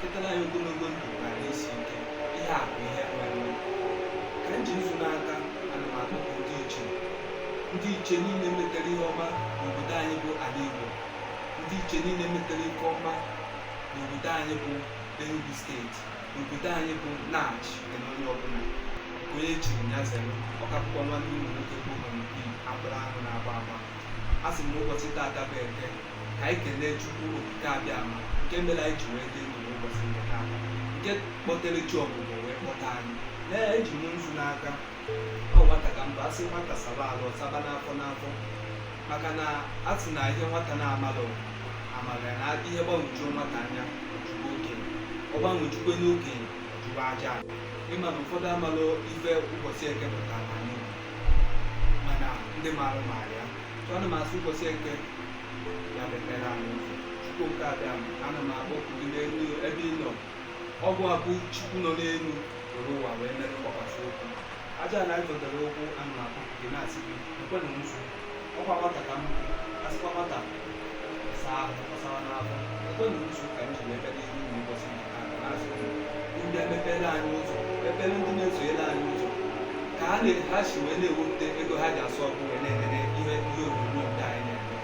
ketara anyị ogologo ndụ na ahụ isi ike ihe a bụ ihe nwere ka m ji nzu n'aka ana m akpọku ndị ichie ndị ichie niile metara ihe ọma n'obodo anyị bụ ala Igbo ndị ichie niile metara ihe ọma n'obodo anyị bụ Enugu steeti n'obodo anyị bụ Nachi na onye ọbụla nke onye chiri ya zere ọkapụkọ nwanne ụmụ nwoke bụ Honorable agbụrụ ahụ na-agba agba a sị m na ụbọchị taata bụ eke ka anyị kelee Chukwu okike abịa ama nke mere anyị ji wee dị ndụ n'ụbọchị nke taa nke kpọtere chi ọbụbọ wee kpọta anyị lee eji m nzu n'aka ọ nwata ka m bụ a sị nwata saba arụ ọ saba n'afọ n'afọ maka na a sị na ihe nwata na-amalọ amalọ ya na ihe gbanwejuo nwata anya ọ jụba okenye ọ gbanwejukwe okenye ọ jụba aja ala ịma na ụfọdụ amalọ ife ụbọchị eke pụtara anyị mana ndị maara maara ya Ana m asị ụbọchị eke ya mepere anyị ụzọ Chukwu okike abịama ana m akpọku gị n'elu ebe ị nọ ọ gịwa bụ Chukwu nọ n'elu were ụwa wee mere mgbakwasị ụkwụ aja ana ịzọdere ụkwụ ana m akpọku gị na-asị gị nekwenụ nzu ọ kwa nwata ka m asịkwa nwata saa ahụ ọ sawa n'afọ nekwenụ nzu ka m ji wee bịa n'ihu ụbọchị ndị emepere anyị ụzọ mepere ndị na-esonyere anyị ụzọ ka ha na- ha si wee na-ewepụta ego ha ji asụ ọkụ wee na-enene ihe ihe onyonyo ndị anyị na-eme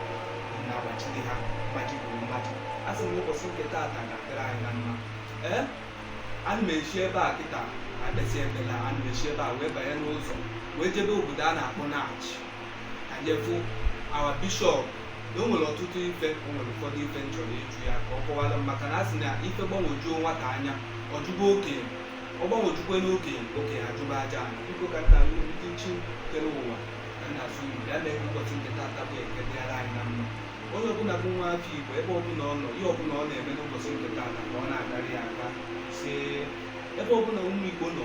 na-agbachiri ha mmadụ bụ mmadụ a sị m ụbọchị nke taata ga-adịrị anyị na mma ee ana m esi ebe a kịta akpesị ebela ana m esi ebe a wee banye n'ụzọ wee jebe obodo a na-akpọ Nachi je fụ our bishop na o nwere ọtụtụ ife o nwere ụfọdụ ife m chọrọ ịjụ ya ka ọ kọwara m maka na a sị na ife gbanwojuo nwata anya ọ jụba okenye ọ gbanwojukwe okenye okenye ajụba aja ala biko ka nna alụ ndị chi kere ụwa ka nna asụ igbo ya na-ekwu ụbọchị nke tata bụ eke dịara anyị na mma onye ọbụla bụ nwa afọ igbo ebe ọbụla ọ nọ ihe ọbụla ọ na-eme n'ụbọchị nke tata ka ọ na-agara ya aka si ebe ọbụla ụmụ igbo nọ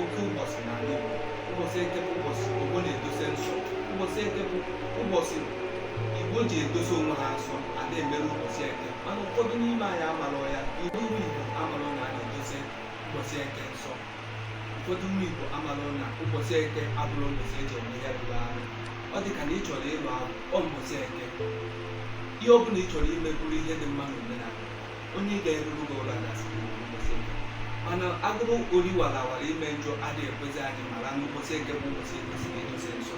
oke ụbọchị n'ala Igbo ụbọchị eke bụ ụbọchị Igbo na-edosa nsọ ụbọchị eke bụ ụbọchị Igbo ji edosa onwe ha nsọ adị emerụ ụbọchị eke mana ụfọdụ n'ime anyị amarọ ya iwu ụmụ Igbo amarọ na a na-edosa ụbọchị eke nsọ ụfọdụ ụmụ Igbo amarọ na ụbọchị eke abụrọ ụbọchị e ji eme ihe rụrụ arụ ọ dị ka na ị chọrọ ịlụ agwụ ọ mbọsị eke ihe ọ bụla ị chọrọ ime bụrụ ihe dị mma n'omenala onye ga-eruru gị ụra na ụbọchị eke mana agụrụ ori wara awara ime njọ adịghị ekwezi anyị mara na ụbọchị eke bụ ụbọchị e kwesịrị idosa nsọ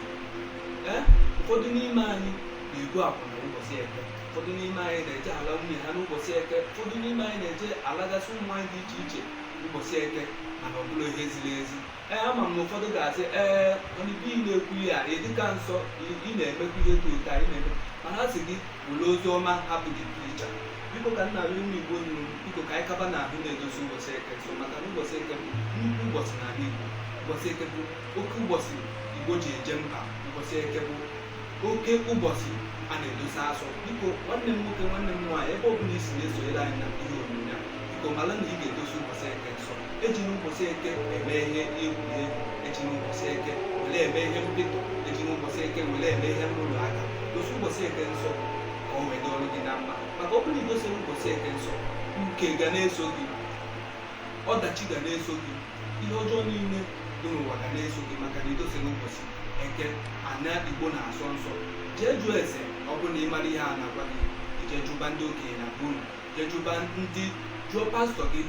ee ụfọdụ n'ime anyị na-ebu akwụna ụbọchị eke ụfọdụ n'ime anyị na-eje ala nwunye ha n'ụbọchị eke ụfọdụ n'ime anyị na-eje alagasị ụmụ nwanyị dị iche iche ụbọchị eke mana ọ bụrọ ihe ziri ezi ee ama m na ụfọdụ ga-asị ee mana ebe ị na-ekwu ihe a ị dịkwa nsọ ị- ị na-emekwu ihe dị otu a ị na-eme mana a sị gị were ozi ọma hapụ the preacher biko ka nna ụmụ igbo nụrụ biko ka anyị gaba n'ihu na-edosi ụbọchị eke nsọ maka na ụbọchị eke bụ nnukwu ụbọchị n'ala igbo ụbọchị eke bụ oke ụbọchị igbo ji eje mba ụbọchị eke bụ oke ụbọchị a na-edosi asọ biko nwanne m nwoke nwanne m nwaanyị ebe ọbụla i si na-esonyere anyị na ihe onyonyo a biko mara na ị ga-edosi ụbọchị eke nsọ ejina ụbọchị eke eme ihe egwuregwu ejina ụbọchị eke were eme ihe mpịtụ ejina ụbọchị eke were eme ihe nrụrụ aka dosi ụbọchị eke nsọ ka o wee dịrị gị na mma maka ọ bụrụ na i dosirọ ụbọchị eke nsọ nke ga na-eso gị ọdachi ga na-eso gị ihe ọjọọ niile dị n'ụwa ga na-eso gị maka na i dosirọ ụbọchị eke ana igbo na-asọ nsọ jee jụọ ese ọ bụrụ na ị marọ ihe a na-agwa gị jee jụba ndị okenye na be unu jee jụba ndị jụọ pastọ gị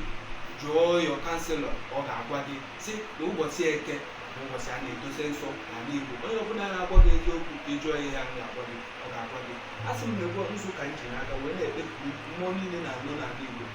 jụọ your counsellor ọ ga-agwa gị si na ụbọchị eke bụ ụbọchị a na-edosi nsọ n'ala igbo onye ọbụla na-agwa gị eziokwu ka ị jụọ ihe a na-agwa gị ọ ga-agwa gị asị m na ogbe nzu ka m ji n'aka wee na-ekpeku mmụọ niile na-anọ n'ala igbo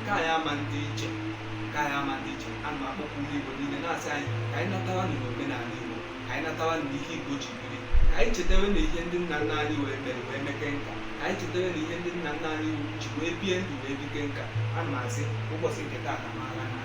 nke anyị ama ndị iche nke anyị ama ndị iche ana m akpọku ndị Igbo niile na-asị anyị ka anyị natawa na omenala Igbo ka anyị natawa na ihe Igbo ji biri ka anyị chetewe na ihe ndị nna nna anyị wee mere wee meke nka ka anyị chetewe na ihe ndị nna nna anyị ji wee bie ndụ wee bike nka ana m asị ụbọchị nke taata mara na